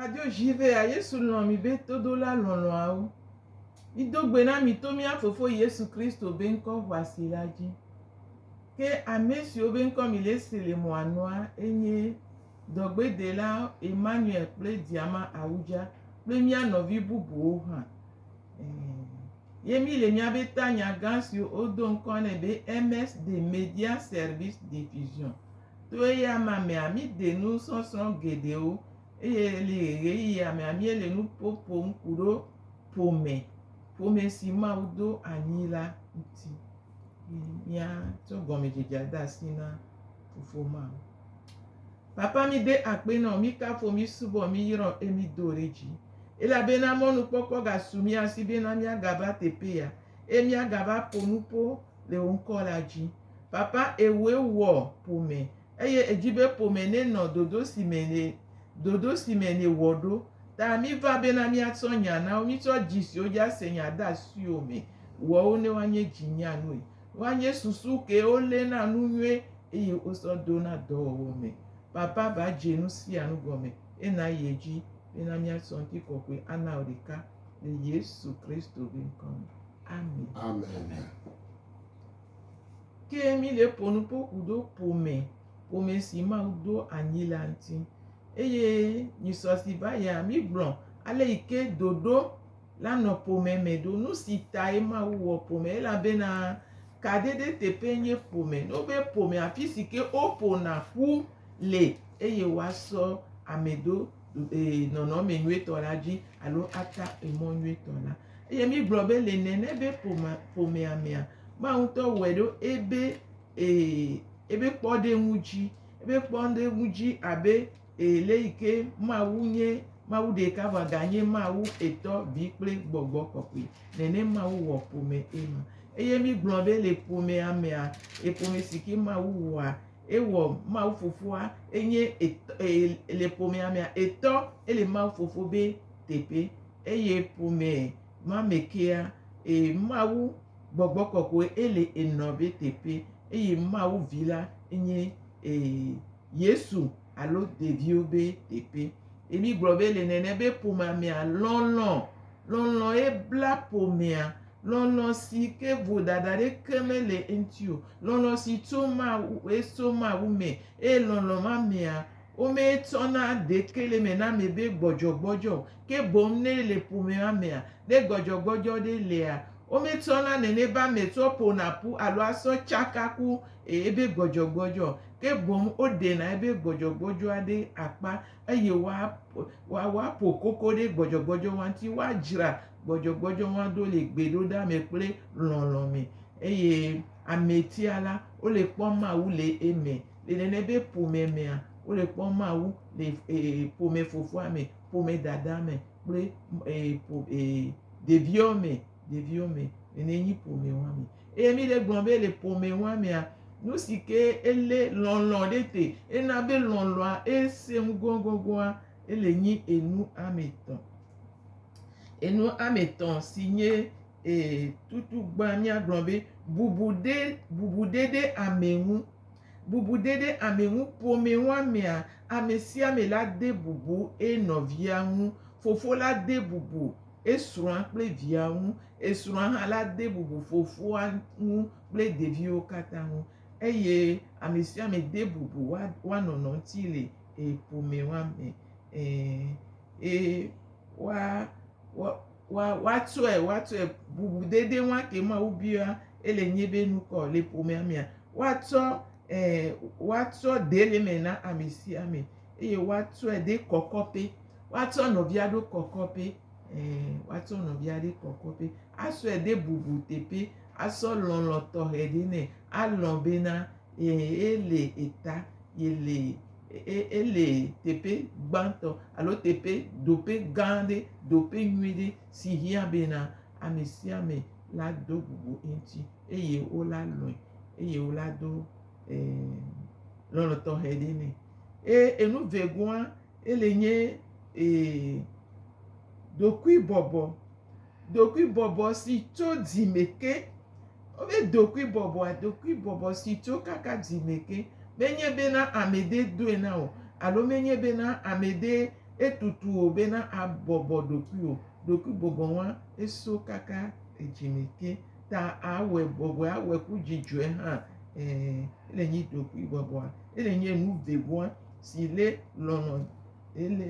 Radio Jivea, Yesu lɔ̃ mi be todola lɔlɔ̃awo. Mido gbe na mi to mía Fofo Yesu Kristo be ŋkɔ ʋɔasi la dzi. Ke ame siwo be ŋkɔ milese le mɔa nua enye dɔgbedela Emmanuel kple Diama Awudza kple mía nɔvi bubuwo hã. Ye mi le mía be tanya gã siwo wodo ŋkɔ nɛ be MS de Media Service Diffusion. To eya ma mea, mi de nu sɔsrɔ̃ geɖewo eye le ɣeyiɣi ya mea, mi le nu ƒo ƒom ku ɖo ƒome, ƒome si Mawu do anyi la ŋuti. Mía tsɔ gɔmedzedzea de asi na Fofo ma. Papa mi de akpe nɔ mi kafo mi subɔ mi yrɔ e mi do ɖe dzi. Elabena mɔnu kpɔkpɔ ga su mi asi be na mia ga va teƒe ya e mia ga va ƒo nu ƒo le wo ŋkɔ la dzi. Papa e wo e wɔ ƒome eye e dzi be ƒome ne nɔ dodo si me ne dodo si me ne wɔ ɖo. Ta mi va be na mia tsɔ nya na wo mi tsɔ dzi siwo dzi a se nya de asiwo me wɔ wo ne woa nye dzi nya nue. Woa nye susu ke wo lé na nu nyuie eye wo sɔ do na dɔwɔwɔ me. Papa va dze nu sia nu gɔme he na ye dzi be na mía sɔ ŋuti kɔkɔe ana wo ɖeka le Yesu Kristo be ŋkɔ me. Amen. Amen. Ke mi le ƒo nu ƒo ku do ƒome, ƒome si Mawu do anyi la ŋuti. Eye nyisɔ si va ya mi gblɔ ale yi ke doɖo la nɔ ƒome me ɖo. Nu si tae Mawu wɔ ƒome elabena kaɖeɖe teƒee nye ƒome. Ne wobe ƒome afi si ke woƒona ƒu le eye woasɔ ame ɖo ee nɔnɔme nyuitɔ la dzi alo ata emɔ nyuitɔ la. Eye mígblɔ be le nene be ƒomea ƒomea mea Mawu ŋutɔ wɔe ɖo ebe ee ebe kpɔɖeŋu dzi ebe kpɔɖeŋu dzi abe Ee, leyike Mawu nye Mawu ɖeka vɔ ganye Mawu Etɔ, Vi kple Gbɔgbɔ Kɔkɔe, nene Mawu wɔ ƒome ema. Eye mígblɔ be le ƒomea mea, e ƒome si ke Mawu wɔa, ewɔ Mawu Fofoa, enye Etɔ, ee, le ƒomea mea, Etɔ, ele Mawu Fofo be teƒe. Eye ƒome ma me kea, ee, Mawu Gbɔgbɔ Kɔkɔe ele Enɔ be teƒe, eye Mawu Vi la enye, ee. Yesu alo ɖeviwo be teƒe. Ye mígblɔ be le nene be ƒomea mea lɔlɔ. Lɔlɔ ye bla ƒomea. Lɔlɔ si ke vodada ɖeke mele eŋuti o. Lɔlɔ si tso Mawu ye tso Mawu me eye lɔlɔ ma mea wometsɔna ɖeke le eme na ame be gbɔdzɔgbɔdzɔ o. Ke boŋ ne ele ƒome ma mea ne gbɔdzɔgbɔdzɔ ɖe lea wometsɔna nene be ame tsɔ ƒona ƒu alo asɔ tsaka ku ebe gbɔdzɔgbɔdzɔ o, ke boŋ woɖena ebe gbɔdzɔgbɔdzɔa ɖe akpa eye woa, woaƒo koko ɖe gbɔdzɔgbɔdzɔwoa ŋuti. Woadzra gbɔdzɔgbɔdzɔwoa ɖo le gbeɖoɖa me kple lɔlɔ̃ me eye ametia la, wole kpɔm Mawu le eme. Le nene be ƒome mea, wole kpɔm Mawu le e, ƒome fofoa me, ƒome dadaa me kple e, ƒo e, ɖeviwo me. ɖeviwo me, nene nyi ƒome wa me. Eye mi ɖe gblɔ be le ƒome wa mea, nu si ke ele lɔlɔ ɖe te, ena be lɔlɔa ese ŋu gɔgɔgɔa, ele nyi enu ame tɔ. Enu ame tɔ si nye e tutu gbã mia gblɔ be bubu ɖe, bubu ɖe ɖe ame ŋu. Bubu ɖe ɖe ame ŋu ƒome wa mea, ame sia ame la de bubu enɔvia ŋu. Fofo la de bubu. esrɔ̃a kple via ŋu, esrɔ̃a hã la de bubu fofoa ŋu kple ɖeviwo katã ŋu eye ame sia ame de bubu wa wa nɔnɔ ŋuti le e ƒomea me e e wa wa wa woatsɔe woatsɔe bubudede wa ke Mawu bia ele nye be nukɔ le ƒomea mea woatsɔ e woatsɔ de le me na ame sia ame eye woatsɔe de kɔkɔƒe. Woatsɔ nɔvia ɖo kɔkɔƒe, ẽ, woatsɔ nɔvia ɖe kɔkɔƒe, asɔe ɖe bubu teƒe, asɔ lɔlɔ̃ tɔxɛ ɖe nɛ, alɔ̃ bena, ẽ, ele eta, yele, e, ele teƒe gbãtɔ alo teƒe, ɖoƒe gã aɖe, ɖoƒe nyui ɖe si hiã bena ame sia ame lado bubu eŋuti eye wola lɔ̃e eye wola do, ẽ, lɔlɔ̃ tɔxɛ ɖe nɛ. Eye enu vegoa, ele nye ee. Ɖokuibɔbɔ, ɖokuibɔbɔ si tso dzime ke. Wobe ɖokuibɔbɔa, ɖokuibɔbɔ si tso kaka dzime ke. Menye bena ame ɖe doe na wò alo menye bena ame ɖe etutu wò bena abɔbɔ ɖokui o. Ɖokuibɔbɔ ma eso kaka edzime ke ta awɔe bɔbɔe, awɔe ku dzidzɔe hã. Ɛɛ, ele nyi ɖokuibɔbɔa. Ele nye nu vevoa. si lé lɔlɔ̃,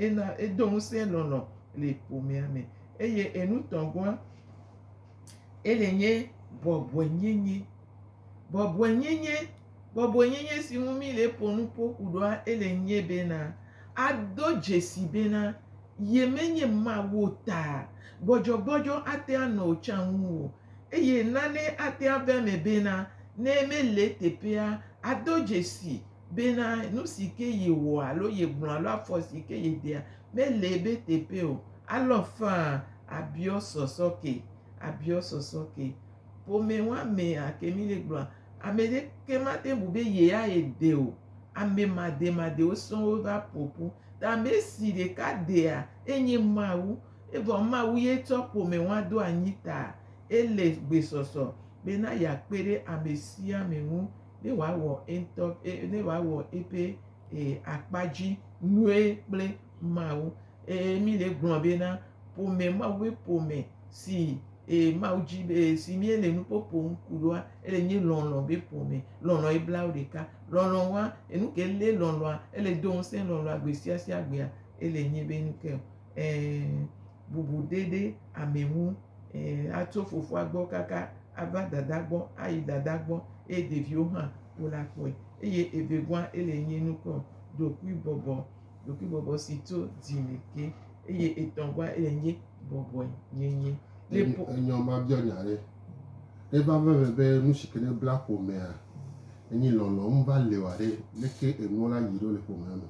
ena, edo ŋusẽ lɔlɔ̃ le ƒomea me. Eye enutɔ̃gɔa, ele nye bɔbɔenyenye. Bɔbɔenyenye, bɔbɔenyenye si ŋu míle ƒo nu ƒo ƒu ɖoa, ele nye bena, ado dzesi bena ye menye Mawu o ta, gbɔdzɔgbɔdzɔ ate anɔ wò tsã ŋu o. Eye nane ate ave eme bena, ne mele eteƒea, ado dzesi bena nu si ke yewɔ alo yegblɔ alo afɔ si ke yedea mele ebe teƒe o. Alɔ faa abiɔ sɔsɔ ke, abiɔ sɔsɔ ke. Ƒome woamea ke mi le gblɔa, ame ɖeke mate ŋu bu be yeaye de o. Ame mademadewo sɔŋ wova ƒo ƒu. Ta ame si ɖeka dea enye Mawu. Evɔ Mawu ye tsɔ ƒome woa ɖo anyi ta ele gbesɔsɔ bena yeakpe ɖe ame sia ame ŋu. ne wòawɔ eŋutɔ ƒe, ne wòawɔ eƒe akpa dzi nyuie kple Mawu. Eye mí le gblɔ bena, ƒome, Mawu ƒe ƒome si Mawu dzi be, si míele nu kpɔ ƒom ku ɖoa, ele nye lɔlɔ̃ ƒe ƒome. Lɔlɔ̃ ye bla wo ɖeka. Lɔlɔ̃ wa enu ke, ele lɔlɔ̃a, ele do ŋusẽ lɔlɔ̃a gbesiasiagbea, ele nye be nu ke o. Ɛ̃, bubu ɖe ɖe ame ŋu. Ɛ̃, atso fofoa gbɔ kaka ava dada gbɔ, ayi dada gbɔ, eye ɖeviwo hã wole akpɔe. Eye evevua ele nye nu ke o, ɖokuibɔbɔ, ɖokuibɔbɔ si tso dzi me ke. Eye etɔ̃gua ele nye bɔbɔe nyenye. Ne po. Enyɔ mabiɔ nya ɖe. Ne va va eme be nu si ke ne bla ƒomea enye lɔlɔ̃ ŋu va li oa ɖe, leke enuwo la yi ɖo le ƒomea me?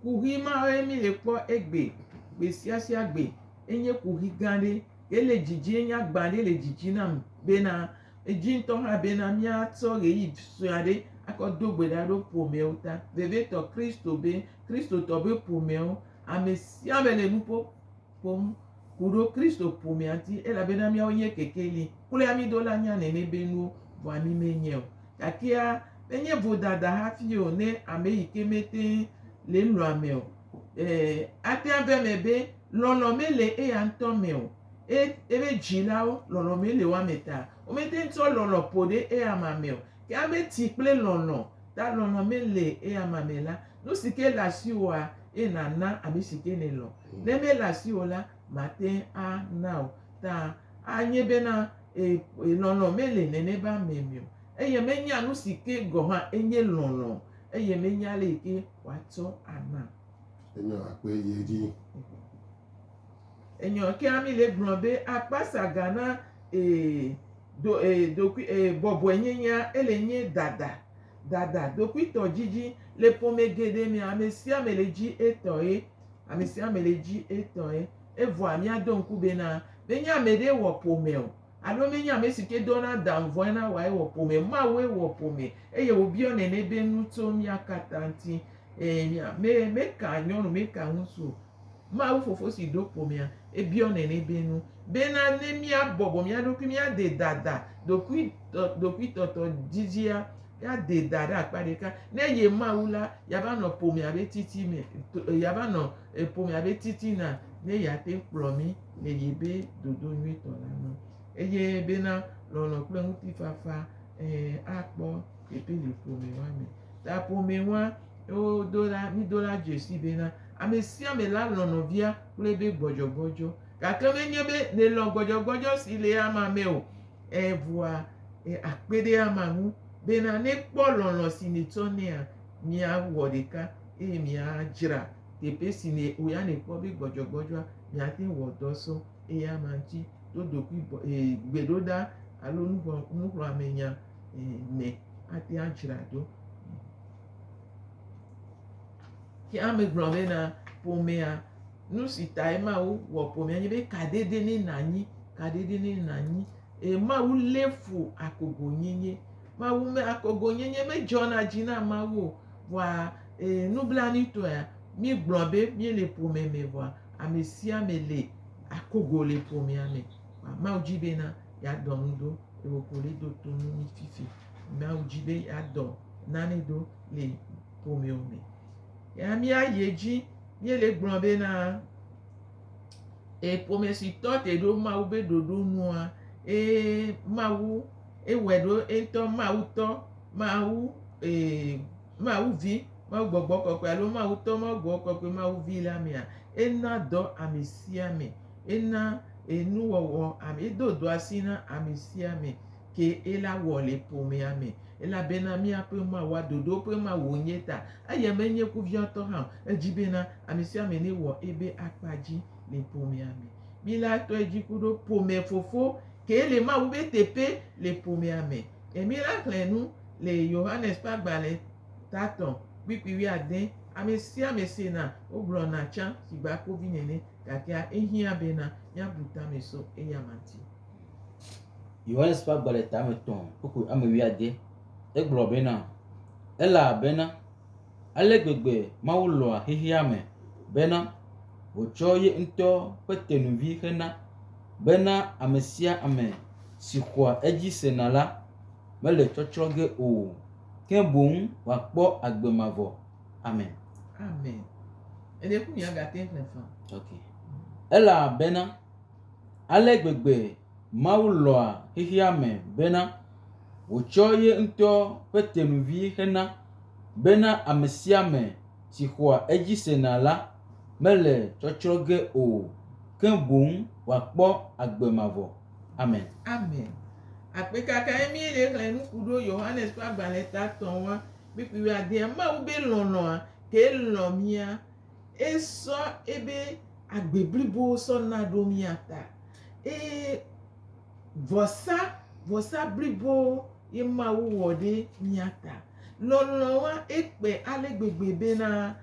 kuxi mawoe mi le kpɔ egbe gbe sia sia gbe. Enye kuxi gã aɖe ye le dzidzi ye nye agba aɖe le dzidzi nam bena edzi ŋutɔ hã bena miatsɔ ʋeyiʋi sue aɖe akɔ do gbe ɖa ɖo ƒomeawo ta. Vevietɔ Kristo be Kristotɔ be ƒomeawo ame sia ame le nu ƒom. kpɔm ku ɖo Kristo ƒomea ŋti, elabena míawo yɛ kekeli kloea mí do la nya nɛnɛ be nuwo vɔa mí me nyɛ o. Gakea, me nye vodada hafi o ne ame yi ke me teŋ le lɔ̃ ame o. E, ate ŋu ava eme be lɔlɔ̃ me le eya ŋutɔ me o. E, ebe dzilawo, lɔlɔ̃ me le woa me ta. Wo me teŋ tsɔ lɔlɔ̃ ƒo ɖe eya ma me o. Ke ame ti kple lɔlɔ̃ ta lɔlɔ̃ me le eya ma me la, Nu si ke le asiwòa, eye nàna ame si ke nèlɔ̃. Ne mele asiwò o la, màte ŋu ana o. Ta anye bena ee, lɔlɔ̃ mele nene be ame me o, eye menya nu si ke gɔ̃ hã enye lɔlɔ̃ o, eye menya ale yi ke wòatsɔ anam. Enyɔ akpe yi edzi. Enyɔ kea mi le gblɔ be akpasa ga na ee, do ee, dokui ee, bɔbɔenyenyea ele nye dada. Dada, ɖokuitɔdidi le ƒome geɖe mea, ame sia ame le dzi etɔe. Ame sia ame le dzi etɔe. Evɔa míado ŋku bena, menye ame ɖee wɔ ƒome o alo menye ame si ke dɔna dan vɔe na wòa ye wɔ ƒome o. Mawue wɔ ƒome eye wòbiɔ nene be nu tso mía katã ŋuti. Ɛ̃, mí, me, meka nyɔnu, meka ŋutsu o. Mawu Fofo si ɖo ƒomea, ebiɔ nɛnɛ be nu, bena ne míabɔbɔ mía ɖokui, míade dada, ɖokui, ɖokuitɔtɔ dzidzia, míade da ɖe akpa ɖeka, ne ye Mawu la, yeava nɔ ƒomea be titi me, yeava nɔ ƒomea be titina, ne yeate ŋu kplɔ mí le ye be dodo nyuitɔ la me. Eye bena lɔlɔ̃ kple ŋutifafa, ɛ̃, akpɔ teƒe le ƒome ma me. Ta ƒomee woa, eye wodo la, mído la dzesi bena, ame sia ame la lɔ̃ nɔvia kple be gbɔdzɔgbɔdzɔ. Gake menye be nèlɔ̃ gbɔdzɔgbɔdzɔ si le ama me o, evɔa, akpe ɖe ama ŋu bena nekpɔ lɔlɔ̃ si nètsɔ nɛa, miawɔ ɖeka eye miadzra teƒe si ne wò ya nèkpɔ be gbɔdzɔgbɔdzɔa, miate ŋu wɔ dɔ sɔ eyama ŋuti to ɖokuibɔ, e, gbeɖoɖa alo nuxlɔ̃amenya me ate ŋu adzra ɖo. Ke ame gblɔ be na ƒomea, nu si tae Mawu wɔ ƒomea nye be kaɖedɛ ne nànyi, kaɖedɛ ne nànyi eye Mawu lé fu akogonyenye. Mawu me akogonyenye medzɔna dzi na Mawu o vɔa e, nublanuitɔea míegblɔ be míele ƒome me vɔa ame sia ame le akogo le ƒomea me. Kpa Mawu dzi be na yeadɔ nu ɖo le wò ƒole do to nu mi fifi. Mawu dzi be yeadɔ nane ɖo le ƒomewo me. Ya mía yi edzi míele gblɔ be na eƒomesitɔ te ɖo Mawu be ɖoɖo nua ee Mawu ewɔe ɖo eŋutɔ Mawu tɔ Mawu ee Mawu vi Mawu gbɔgbɔ kɔkɔe alo Mawu tɔ Mawu gbɔgbɔ kɔkɔe Mawu vi la mea ena dɔ ame sia ame. ena enuwɔwɔ ame edo do asi na ame sia ame ke ela wɔ le ƒomea me elabena míaƒe Mawu wa ɖoɖo ƒe Mawu wònye ta eye menye kuviatɔ hã o edi bena ame sia ame newɔ ebe akpa dzi le ƒomea me. Mila tɔe dzi ku ɖo ƒome fofo kee le Mawu be teƒe le ƒomea me. E mila xlẽ nu le Yohanes ƒe agbalẽ tatɔ kpikpi wuiade ame sia ame sena wogblɔna tsã si gba kovi nene. Gakea ehiã bena míabu tamɛ so eyama ŋuti. Yohanes ƒe agba le tame tɔ̃ kpukpui ame wuiade. Egblɔ bena, Elabena ale gbegbe Mawu lɔ̃a xexeame bena wòtsɔ ye ŋutɔ ƒe tenuvi xe na, bena ame sia ame si xɔa edzi sena la, mele tsɔtsrɔ̃ ge o, ke boŋ wòakpɔ agbe mavɔ. Amen. Amen. Ele ku ya gate ƒe fa. Ok. Elabena ale gbegbe Mawu lɔa xexea me bena wòtsɔ ye ŋutɔ ƒe tenuvi hena bena ame sia ame si xɔa edzi sena la mele tsɔtsrɔ̃ ge o, ke boŋ wòakpɔ agbe mavɔ. Amen. Amen. Akpekakae mí le xlẽ nuku ɖo Yohanes ƒe agbalẽ tatɔ̃ wa. Mikpikpiadea Mawu be lɔlɔ̃a kee lɔ̃ mía. Esɔ ebe agbe blibo sɔ na ɖo mía ta. Eye vɔsa, vɔsa blibo ye Mawu wɔ ɖe mía ta. Lɔlɔ̃a ekpe ale gbegbe bena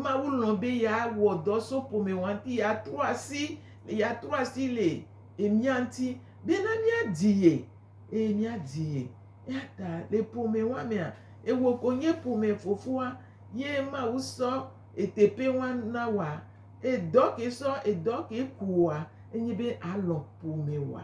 Mawu lɔ̃ be yeawɔ dɔ so ƒome wa ŋuti, yeatrɔ asi, yeatrɔ asi le mía ŋuti bena míadi ye. eye míadi ye. Eya ta le ƒome wa mea, ewɔ konye ƒome fofoa ye Mawu sɔ eteƒe wa na wa. Edɔ ke sɔ edɔ ke kua enye be alɔ ƒome wa.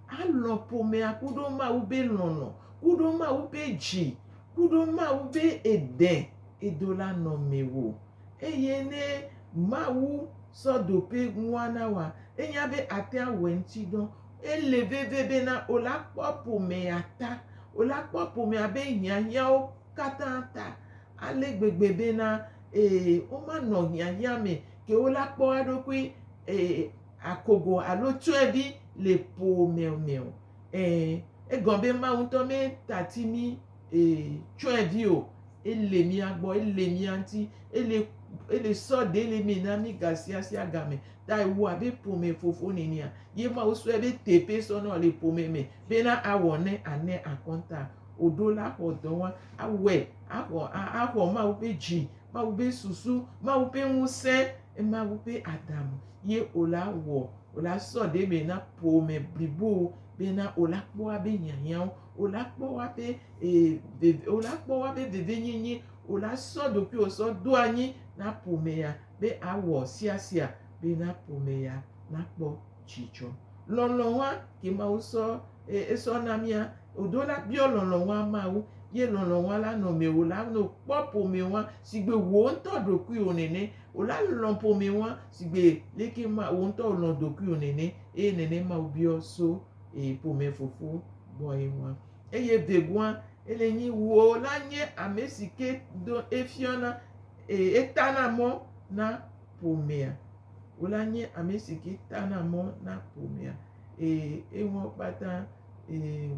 Alɔ ƒomea ku ɖo Mawu be lɔlɔ, ku ɖo Mawu be dzi, ku ɖo Mawu be eɖe edo la nɔ mewò. Eye ne Mawu sɔ ɖoƒe ŋua na wa, enya be atea wɔ eŋuti dɔ. Ele veve bena wòla kpɔ ƒomea ta, wòla kpɔ ƒomea be hiahiãwo katã ta ale gbegbe bena, ee, womanɔ hiahiã me ke wola kpɔ eɖokui, ee, akogo alo tsyɔ̃evi le ƒomea me o. Ẽ, egɔ be Mawu ŋutɔ metati mí, ee, tsyɔ̃evi o. Ele mía gbɔ, ele mía ŋuti, ele, ele sɔ ɖe le eme na mí gasiasiagame. ta ewɔa be ƒome fofo nenia ye ma wosɔe be teƒe sɔ nɔ le ƒome me bena awɔ ne ane akɔnta oɖo la xɔ dɔ wa awɔe axɔ axɔ ma woƒe dzi ma woƒe susu ma woƒe ŋusẽ ema woƒe adam ye ola wɔ ola sɔ ɖe me na ƒome blibo bena ola kpɔa be hiahiãwo ola kpɔwa be ee ola kpɔwa be veve nyenye ola sɔ ɖokuiwo sɔ do anyi na ƒomea be awɔ siasia be na ƒome ya nakpɔ dzidzɔ. Lɔlɔ̃a ke Mawu sɔ e esɔ na mía o ɖo la biɔ lɔlɔ̃a Mawu ye lɔlɔ̃a la nɔ mewò la no kpɔ ƒomeɔa sigbe wò ŋutɔ ɖokuiwò nene o la lɔ̃ ƒomeɔa sigbe leke ma wò ŋutɔ wòlɔ̃ ɖokuiwò nene eye nene Mawu biɔ so e ƒome fofo gbɔe ŋua. Eye vegɔa ele nyi wò la nye amesike do efiɔna Eye etana mɔ na ƒomea. Wòla nye ame si ke tana mɔ na ƒomea. Eye enuwo kpata eye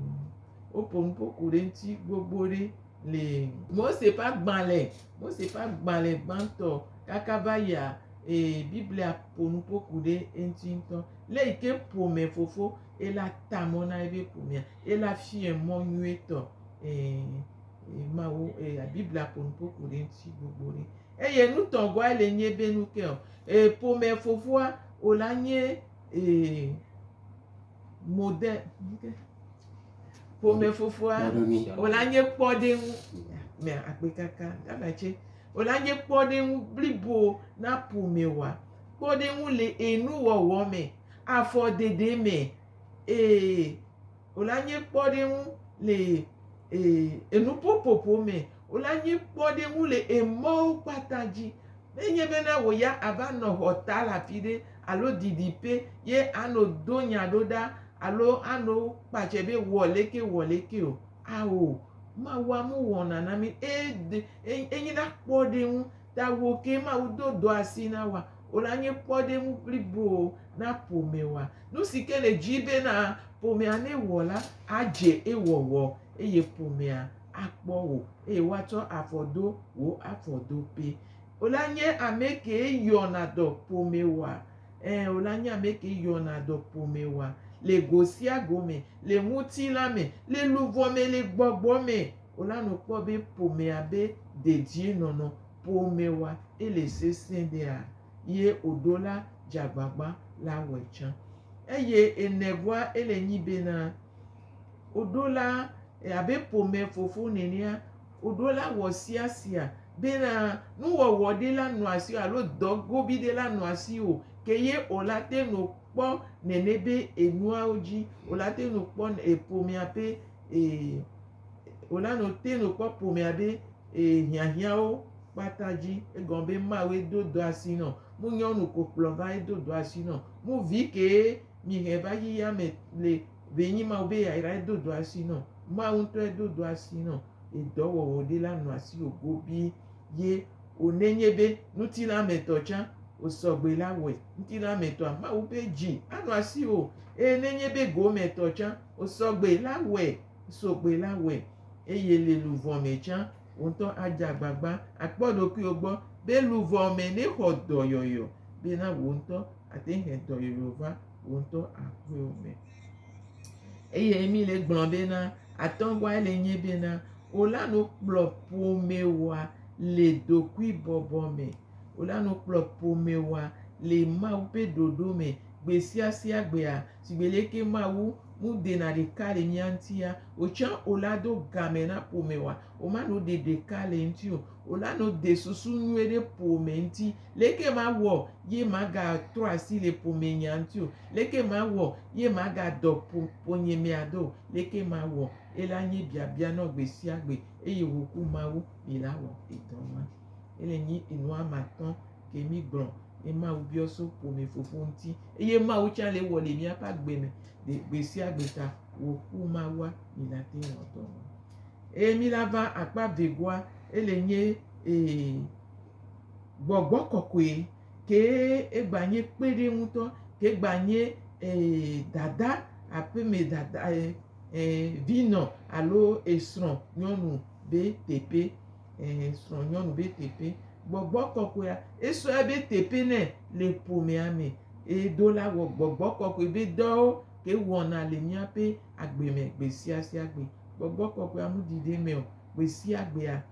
woƒo nuƒo ku ɖe ŋuti gbogbo ɖe le. Mose ƒe agbalẽ, Mose ƒe agbalẽ gbãtɔ kaka va yia eye Biblia ƒo nuƒo ku ɖe eŋuti ŋutɔ. Le yi ke ƒome fofo ela ta mɔ na eƒe ƒomea. Ela fiae mɔ nyuietɔ. Ẽ. Mawu eya Biblia ƒo nu ƒoƒu ɖe ŋuti gbogbo ɖe. Eye nutɔgɔa le nye be nu ke o. Ee, ƒome fofoa o la nye ee mode nuke. Ƒome fofoa o la nye kpɔɖeŋu. Me akpe kaka gama tse. O la nye kpɔɖeŋu blibo na ƒome wa. Kpɔɖeŋu le enuwɔwɔ me, afɔɖeɖe me. Ee. wole anyi kpɔɖeŋu le enuƒoƒoƒo me, wole anyi kpɔɖeŋu le emɔwo kpata dzi. Ne enye bena wò ya àva nɔ xɔ ta le afi ɖe alo didiƒe ye ano do nya ɖo ɖa alo ano kpatse be wɔ leke wɔ leke o, ao, Mawua nu wɔna na mí. Enyi na kpɔɖeŋu Tago kee Mawu do dɔ asi na woa? Wòle anye kpɔɖeŋu blibo na ƒomewoa? Nu si ke nèdi bena ƒomea newɔ la adze ewɔwɔ eye ƒomea akpɔ wò eye woatsɔ afɔ do wò afɔdoƒe. Wòle anye ame kee yɔna dɔ ƒomewoa? Ẽ, wòle anye ame kee yɔna dɔ ƒomewoa? Le go sia go me, le ŋutilã me, le luʋɔ me, le gbɔgbɔ me. Wonanɔ kpɔ be ƒomea be dedie nɔnɔ ƒome wa ele sesẽ ɖea, ye oɖo la dzagbagba la wɛ tsã. Eye enɛ bua ele nyi bena, oɖo la abe ƒome fofo nenea, oɖo la wɔ sia sia bena nuwɔwɔ ɖe la nɔ asi alo dɔ gobi ɖe la nɔ asi o, ke ye ola te nɔ kpɔ nene be enuawo dzi ola te nɔ kpɔ eƒomea be e. wòna no te no kpɔ ƒomea be e, hiahiãwo kpata dzi. Egɔme be ma woe do do asi nɔ. Mu nyɔnu ko kplɔ va edo do asi nɔ. Mu vi kee mi hɛ va yi ya me le be nyi ma wo be ya yra edo do asi nɔ. Ma wo ŋutɔ edo do asi nɔ. Edɔ wɔwɔ ɖe la nɔ asi wo gobi ye o nenye be ŋuti la me tɔ tsã o sɔgbe la wɔe. Ŋuti la me tɔa ma wo be dzi anɔ asi o. E nenye be go me tɔ tsã o sɔgbe la wɔe. Sɔgbe la wɔe, eye le luʋɔ me tsã, wò ŋutɔ adze agbagba akpɔ ɖokuiwò gbɔ be luʋɔ me nèxɔ dɔyɔyɔ bena wò ŋutɔ àte ŋu he dɔyɔyɔ va wò ŋutɔ aƒewo me. Eye Emil le gblɔ bena, atɔ̃gɔae le nye bena, wò la nu kplɔ ƒomewòa le ɖokuibɔbɔ me. Wò la nu kplɔ ƒomewòa le Mawu ƒe ɖoɖo me gbesiasiagbea. Sigbe leke Mawu mu dena ɖeka le mía ŋutia, wotsã o la do game na ƒome wa. Woma no de ɖeka le ŋuti o. Wola no de susu nyuie ɖe ƒome ŋuti. Leke mawɔ ye maga trɔ asi le ƒome nya ŋuti o? Leke mawɔ ye maga dɔ ƒo ƒonye mea do o? Leke mawɔ ye la nye biabia nɔ gbesiagbe eye woku Mawu mi la wɔ edɔ ma. Ele nyi enua matɔ̃. ke mi gblɔ ye Mawu biɔ so ƒome fofo ŋuti eye Mawu tsã le wɔ le míaƒe agbe me le gbe sia gbe ta wòku Mawua mi la te ŋu dɔ me. Eye mi la va akpa vegoa ele nye ee gbɔgbɔ kɔkɔe ke egba nye kpe ɖe ŋutɔ ke egba nye ee dada aƒe me dada ee vinɔ alo esrɔ̃ nyɔnu be teƒe. ɛɛ srɔ̃nyɔnu be teƒe. Gbɔgbɔ kɔkɔea, esɔ ebe teƒe nɛ le ƒomea me. Eye do la wɔ gbɔgbɔ kɔkɔe be dɔwo ke wɔna le míaƒe agbe me gbesiasia gbe. Gbɔgbɔ kɔkɔea mu ɖi ɖe eme o. Gbesiagbea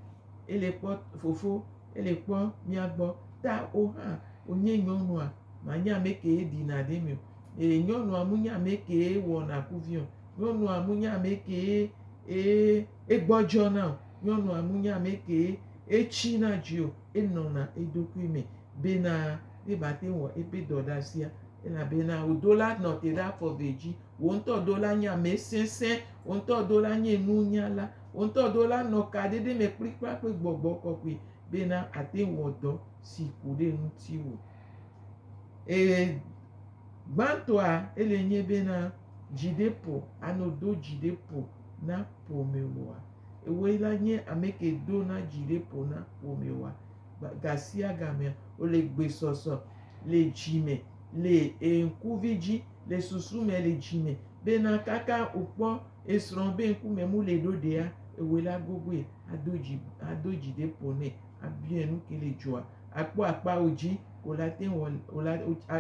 ele kpɔ fofo, ele kpɔ mía gbɔ. Ta wò hã wònye nyɔnua, mànye ame kee ɖina ɖe eme o. Eye nyɔnua mu nye ame kee wɔna kuvi o. Nyɔnua mu nye ame kee ee egbɔdzɔna o. Nyɔnua mu nya me kee etsi na dzi o, enɔna eɖokui me bena yebate ŋu wɔ eƒe dɔɖasia elabena wòdo la nɔ te ɖe afɔ eve dzi. Wò ŋutɔ do la nye ame sesẽ, wò ŋutɔ do la nye nunyala, wò ŋutɔ do la nɔ kaɖeɖe me kplikpakpli gbɔgbɔ kɔkɔe bena àte ŋu wɔ dɔ si ku ɖe ŋutiwò. Eye gbãtɔa ele nye bena dzi ɖe ƒo ano do dzi ɖe ƒo na ƒomewòa. Ewoe la nye ameke dona dzi ɖe ƒo na ƒomewoa. Gasiagamea, wole gbesɔsɔ le dzi me, le ŋkuvi dzi, le susu me, le dzi me bena kaka wokpɔ esrɔ̃ be ŋkume mu le ɖo ɖea, ewoe la gogoe ado dzi ado dzi ɖe ƒo nɛ abiae nu ke le dzɔa. Akpɔ akpawo dzi wòle ate ŋu wòle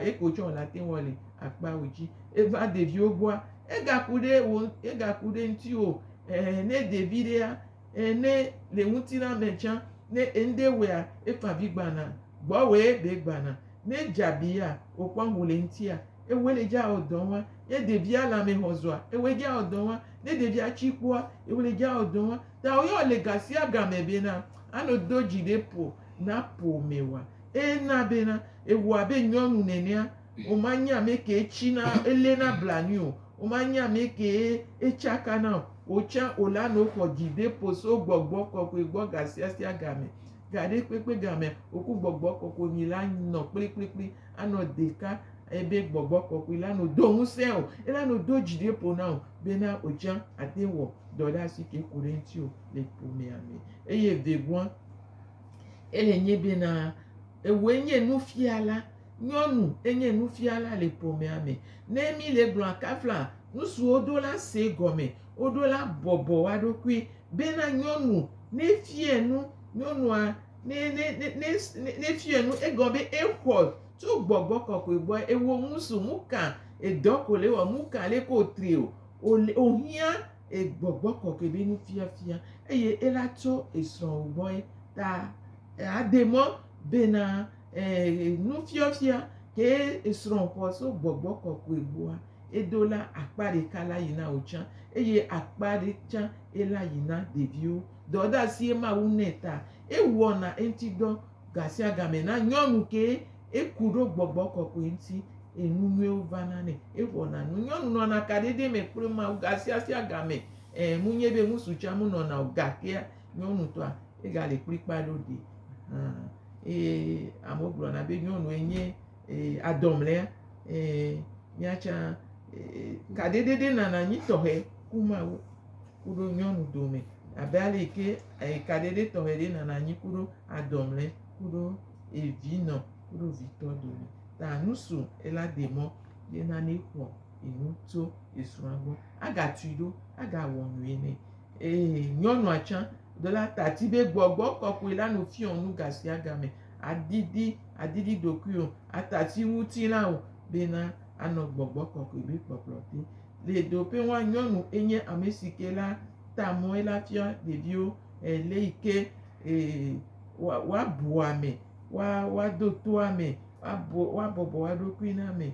eke wotsɔ wòle ate ŋu le akpawo dzi. Eva ɖeviwo gbɔa, egaku ɖe wo egaku ɖe ŋutiwò. eh, ne de viɖea, eh, ne le ŋutilã me tsã, ne eŋɖe wea, efa vi gbana, gbɔwɔe be gbana, ne dzabiya, wòkpɔ ŋu le ŋutia, ewoe le dza ɔdɔ wa, ne ɖevia lãme hɔ zɔa, ewoe dza ɔdɔ wa, ne ɖevia tsi kpɔa, ewoe le dza ɔdɔ wa, ta woyɔ le gasia game be na, ano do dzi ɖe ƒo, na ƒo me wa, ena be na, ewoa be nyɔnu nenea, Womanye ame kee tsina eléna blanui o, womanye ame kee etsakana o. Wò tsã wòla nɔ xɔ dzideƒo so gbɔgbɔ kɔkɔe gbɔ gasiasia gamɛ. Gaɖekpekpe gamea, wò ku gbɔgbɔ kɔkɔe mi la nɔ kplikplikpli anɔ ɖeka ebe gbɔgbɔ kɔkɔe la nɔ do ŋusẽ o, ela nɔ do dzideƒo na wò bena wò tsã àte wɔ dɔ ɖe asi ke ku ɖe ŋutiwò le ƒomea me. Eye vevua ele nye bena ewɔe nye nufiala. Nyɔnu enye nufiala le ƒomea me. Ne míle egblɔa kafla nu si woɖo la see gɔme. Woɖo la bɔbɔ wo ɖokui bena nyɔnu ne fia nu, nyɔnua ne ne ne ne ne ne fia nu egɔme be exɔ tso gbɔgbɔ kɔkɔe gbɔ. Ewɔ nu so nu ka edɔ ko le wɔ nu ka le ke wotri o o le wohiã e gbɔgbɔ kɔkɔe be nufiafia eye ela tso esrɔ̃wo gbɔe ta ade mɔ bena. Ɛɛ, nufiafia kee esrɔ̃ xɔ tso gbɔgbɔ kɔkɔe gbɔa, edo la akpa ɖeka la yi na wò tsã, eye akpa ɖe tsã ela yi na ɖeviwo. Dɔdeasie Mawu nɛ ta ewɔna eŋuti dɔ gasiagame na nyɔnu kee eku ɖo gbɔgbɔ kɔkɔe ŋuti, eye nu nyuiwo vana nɛ. Exɔna nu. Nyɔnu nɔna kaɖiɖi me kple Mawu gasiasiagame. Ɛɛ, munye be ŋutsu tsã munɔna o, gakea nyɔnutɔa egale kplikpaa ɖo ɖee. Hã. eye amewo gblɔna be nyɔnue nye adɔmlea, ee, mía tsã kaɖiɖiɖi nana anyi tɔxɛ ku mawu ku ɖo nyɔnu dome abe ale yi ke kaɖiɖi tɔxɛ ɖe nana anyi ku ɖo adɔmlɛ ku ɖo evinɔ ku ɖo vitɔ dome ta nusu ela demɔ ye nane xɔ enu tso esrɔ̃a gbɔ agatui ɖo agawɔ nui nɛ. Eye nyɔnua tsã ɖo la ta ti be gbɔgbɔ kɔkɔe la nu fiɔ nu gasiagame. Adidi, adidi ɖokuiwò, ata ti ŋutilã o bena anɔ gbɔgbɔ kɔkɔe be kpɔkplɔ te. Le ɖoƒe ŋua, nyɔnu enye ame si ke la ta mɔe la fia ɖeviwo le yi ke woabu ame, woado to ame, woabɔbɔ woaɖokui na ame.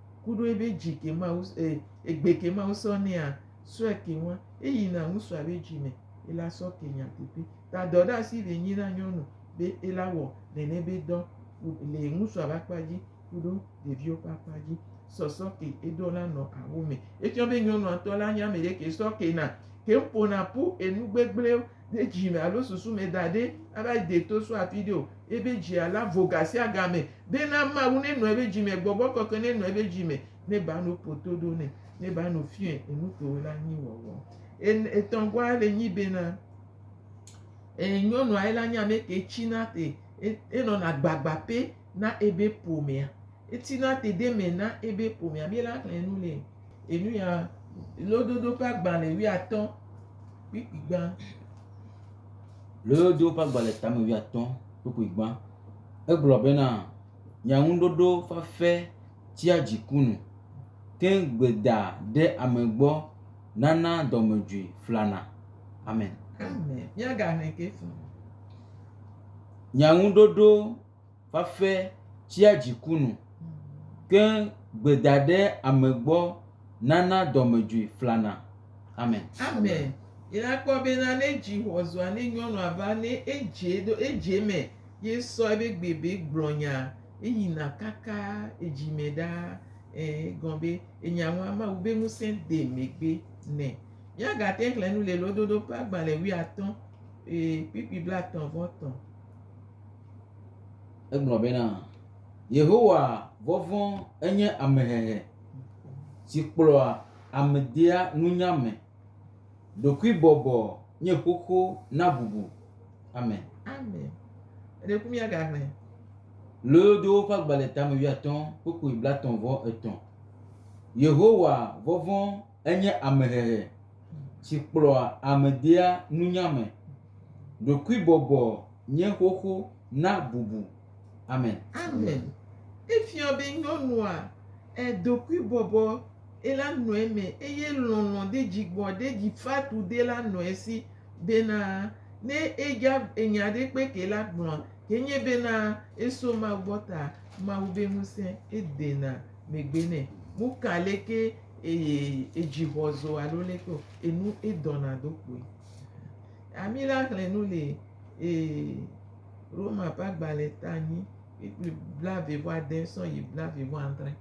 kuɖo ebe dzi ke ma wo e egbe ke ma wosɔ nɛa sɔe ke ŋua eyi na ŋusua be dzi me ela sɔ ke nya teƒe ta dɔ ɖe asi be nyi na nyɔnu be ela wɔ nene be dɔ le ŋusua be akpa dzi kuɖo ɖeviwo ƒe akpa dzi sɔsɔ ke eɖo la nɔ awo me efiɔ be nyɔnua ŋutɔ la nya me ɖe ke sɔ ke na ke ƒona ƒu enu gbegblẽwo ɖe dzi me alo susu me da ɖi ava de to so afi ɖe o. Ebe dzia la vo gasiagame be na Mawu ne nɔ ebe dzi me, gbɔgbɔ kɔkɔe ne nɔ ebe dzi me, ne ba no po to ɖo ne, ne ba no fiɔe enu ke wo la nyi wɔwɔ. En etɔn gɔa le nyi be na e nyɔnua ela nyi ameke tsi na te e enɔ na gbagba pe. na ebe ƒomea. Etina dedeme na ebe ƒomea. Mi la xlẽ nu le enu ya lododo ƒe agbalẽ wuiatɔ̃ kpukpui gbã. Lododo ƒe agbalẽ tame wuiatɔ̃ kpukpui gbã. Egblɔ bena, Nye ŋuɖoɖo fafɛ tia dziku nu, ke gbeda ɖe ame gbɔ nana dɔmedzoe flana. Amen. Amen. Míagaxlẽ ke fũ. Nye ŋuɖoɖo va fe tsia dziku nu, ke gbeda ɖe ame gbɔ nana dɔmedzoe flana. Amen. Amen. Yi na kpɔ be na ne dzi xɔ zua ne nyɔnua va ne edze ɖo edze me ye sɔ ebe gbe be gblɔ nya eyi na kaka edzi me ɖa e gɔn be enya ŋu ama wu be ŋusẽ de megbe ne. Mia ga te xlẽ nu le lododo ƒe agbalẽ wui atɔ̃ e kpikpi blatɔ̃ vɔ tɔ̃. Egblɔ bena, Yehowa vɔvɔ̃ enye amehehe si kplɔa ame dea nunya me. Ɖokuibɔbɔ nye xoxo na bubu. Amen. Amen. Ɖe ku mía ga me. Loyodo ƒe agbalẽ tame wuiatɔ̃ kpukpui blatɔ̃ vɔ etɔ̃. Yehowa vɔvɔ̃ Enye amehehe si kplɔa ame dea nunya me. Ɖokuibɔbɔ nye xoxo na bubu. Amen. Amen. Efiɔ be nyɔnua e ɖokuibɔbɔ e la nɔe me eye lɔlɔ de dzigbɔ de dzifatu de la nɔe si bena ne e dza enya ɖe kpe ke la gblɔa ke nye bena e so Mawu gbɔ ta Mawu be ŋuse e dena megbe nɛ. Mo ka leke Eye edzi xɔzo alo lé kpeo enu edɔna do kpoe. Ami la xlẽ nu le ee Roma ƒe agbalẽ ta anyi kpikpli blaeve vɔ ade sɔ yi blaeve vɔ adre.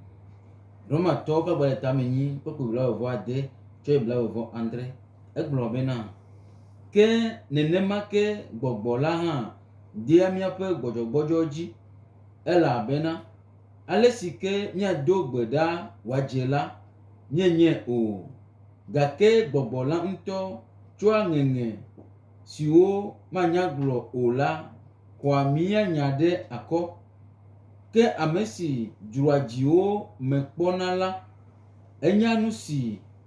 Roma tɔwo ƒe agbalẽ ta me nyi kpikpli blaeve vɔ ade tsɔ yi blaeve vɔ adre. Egblɔ bena, Ke nenema ke gbɔgbɔ la hã dea míaƒe gbɔdzɔgbɔdzɔ dzi, elabena. ale si ke míado gbe ɖa wòadze la nyenye o, gake gbɔgbɔ la ŋutɔ tsɔa ŋeŋe siwo manya gblɔ o la xɔa mía nya ɖe akɔ. Ke ame si dzroa dziwo me kpɔna la, enya nu si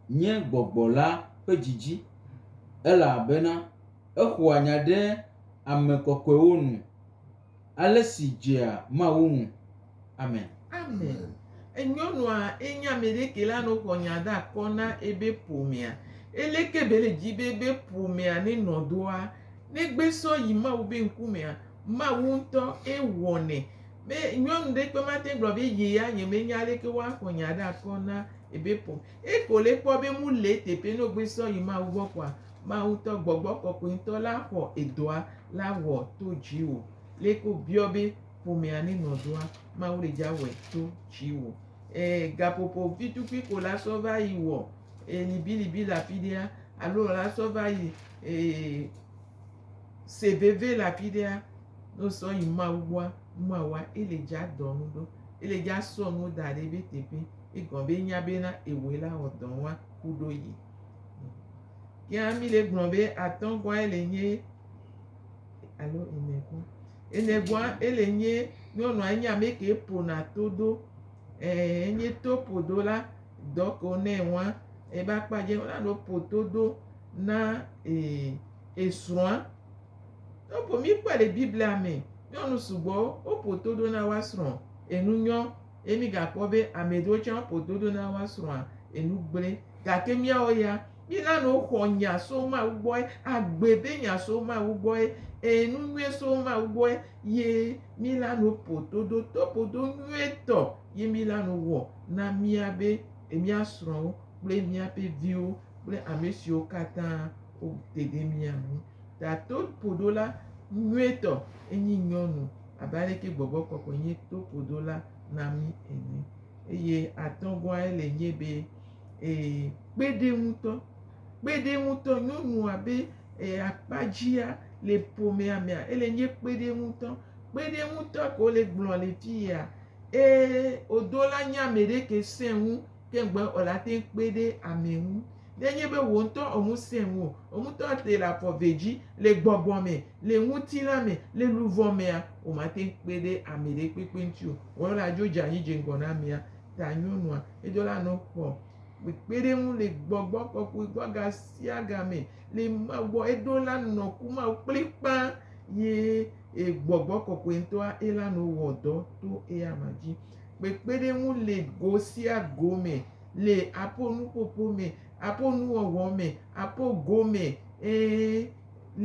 nye gbɔgbɔ la ƒe dzidzi, elabena exɔa nya ɖe ame kɔkɔewo nu. ale si dzea Mawu ŋu. Amen. Amen. Enyɔnua enye ameɖeke la no xɔ nya da kɔ na ebe ƒomea. Ele ke be le dzi be ebe ƒomea ne nɔ doa, ne gbe sɔ yi Mawu be ŋkumea, Mawu ŋutɔ e wɔnɛ. Me nyɔnu ɖe kpe ma te gblɔ be ye ya nye me nya aleke woa xɔ nya da kɔ na ebe ƒo. Eko le kpɔ be mu le teƒe no gbe sɔ yi Mawu gbɔ kɔa, Mawu tɔ gbɔgbɔ kɔkɔe ŋtɔ la xɔ edɔa la wɔ to dziwo. Leke wo biɔ be ƒomea ne nɔ doa, Mawu le dza wɔe to dziwo. Eh, gaƒoƒo vitukui ko la sɔ va yi wɔ eh, libilibi la fi ɖea, alo la sɔ va yi eh, se veve la fi ɖea, no sɔ yi Mawu gbɔa, nua wa, ele dza dɔ nu ɖo. Ele dza sɔ nu da ɖe be teƒe, egɔme be nya bena ewɔe la wɔ dɔ wa ku ɖo yi. Yea mi le gblɔ be atɔgɔa ele nye alo enegɔ. Enegɔa ele nye nyɔnua enye ame ke ƒona to do. Eh, enye to ƒodo la dɔ ke wonɛ wɔa ebe akpa dze wona no ƒo to do na eh, esrɔ̃a. Eƒo mi kpɔ le Biblia me. Nyɔnu sugbɔ woƒo to do na woasrɔ̃ enu nyɔ. Eye migakpɔ be ame ɖewo tsɛ woƒo dodo na woa srɔ̃a enu gblẽ. Gake míawo ya, mína nu xɔ nya so Mawu gbɔe, agbe be nya so Mawu gbɔe, ẽ, nu nyuie so Mawu gbɔe, ye míla nu ƒo dodo to ƒodo nyuietɔ ye míla nu wɔ na mía be mía srɔ̃wo kple míaƒe viwo kple ame siwo katã wote ɖe mía ŋu. Tato ƒodola nyuietɔ enye nyɔnu. abe aleke gbɔgbɔ kɔkɔe nye toƒodola na mí ene. Eye atɔ̃gɔae le nye be, ee, kpe ɖe ŋutɔ, kpe ɖe ŋutɔ, nyɔnua be ee, akpa dzia le ƒomea mea, ele nye kpe ɖe ŋutɔ, kpe ɖe ŋutɔ ke wole gblɔ le fi yea, ee, odola nye ame ɖe ke sẽ ŋu Ke ŋugbe o la, ate ŋu kpe ɖe ame ŋu. Ne enye be wò ŋutɔ ò ŋusẽ ŋu o, wò ŋutɔ ate le afɔ ve dzi, le gbɔgbɔ me, le ŋutilã me, le luʋɔ mea, wòmate ŋu kpe ɖe ame ɖe kpekpe ŋuti o. Wɔla dzo dze anyi dze ŋgɔ na amea, ta nyɔnua, edo la nɔ xɔ kpekpeɖeŋu le gbɔgbɔ kɔkɔe gbɔ ga sia ga me le Mawu gbɔ. Edo la nɔ ku Mawu kplikpã ye gbɔgbɔ kɔkɔe ŋutɔa ela nɔ wɔ dɔ to eya ma dzi. Kpekpeɖeŋu le go sia go me, le aƒo nuƒoƒo me, aƒo nuwɔwɔ me, aƒo go me, ẽ,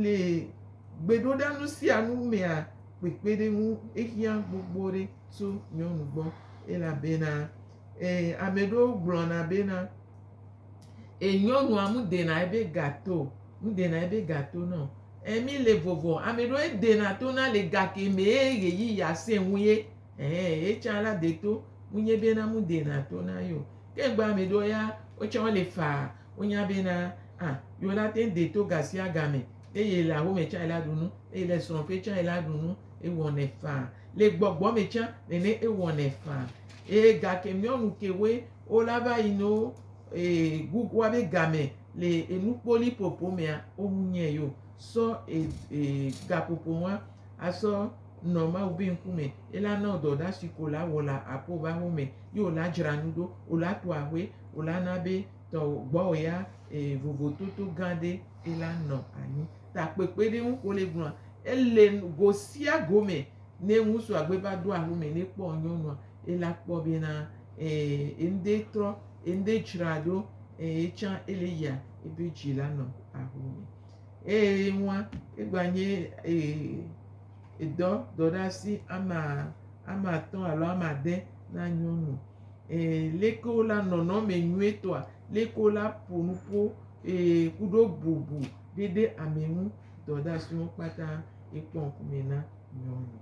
le gbeɖoɖa nu sia nu mea, kpekpeɖeŋu ehiã gbogbo ɖe tso nyɔnu gbɔ. Elabena, ẽ, ame ɖewo gblɔna bena, ẽ, nyɔnua nu ɖena ebe ga to, nu ɖena ebe ga to nɛ o. Ẽ, mi le vovo, ame ɖewo edena to na le gake mee ɣeyiɣia sẽ ŋu ye. Ɛhɛɛ, ye tsã la de to nu nye be na mu de na to na ye o. Ke gbea me ɖewo ya, wo tsã wole faa. Wonya be na, a, yewo la te ŋu de to ga sia ga me. Ne ye le awu me tsã ye la ɖu nu, ne ye le srɔ̃ ƒe tsã ye la ɖu nu. Ewɔnɛ faa. Le gbɔgbɔ me tsã nene ewɔnɛ faa. Eye gake miɔnu ke woe wo la va yi no e, Google wa be game le enukpoli ƒoƒo mea, wo ŋu nye ye o. Sɔ e, e, gaƒoƒo nua asɔ nɔ Mawu be ŋkume, ela nɔ dɔ ɖa si ko la wɔ la apo be aho me, ye o la dzra nu ɖo, o la to ahoe, o la na be tɔ gbɔ o ya e vovototo gã ɖe ela nɔ anyi. Ta kpekpe ɖe ŋu ko le gblɔa, ele go sia go me ne ŋusu agbe va do aho me ne kpɔ nyɔnua, ela kpɔ be na e eŋde trɔ, eŋde dzra ɖo, e etsã ele yia ebe dzi la nɔ aho me. Eye ye ŋua, ye gba nye edɔ dɔ ɖe asi ama ama atɔ alo ama ade na nyɔnu. Eye leke wo la nɔnɔme nyuietɔa, leke wo la ƒo nu ƒo eye kuɖo bubu ɖe ɖe ame ŋu dɔ ɖe asi wo kpata ye kpɔ ŋku me na nyɔnu.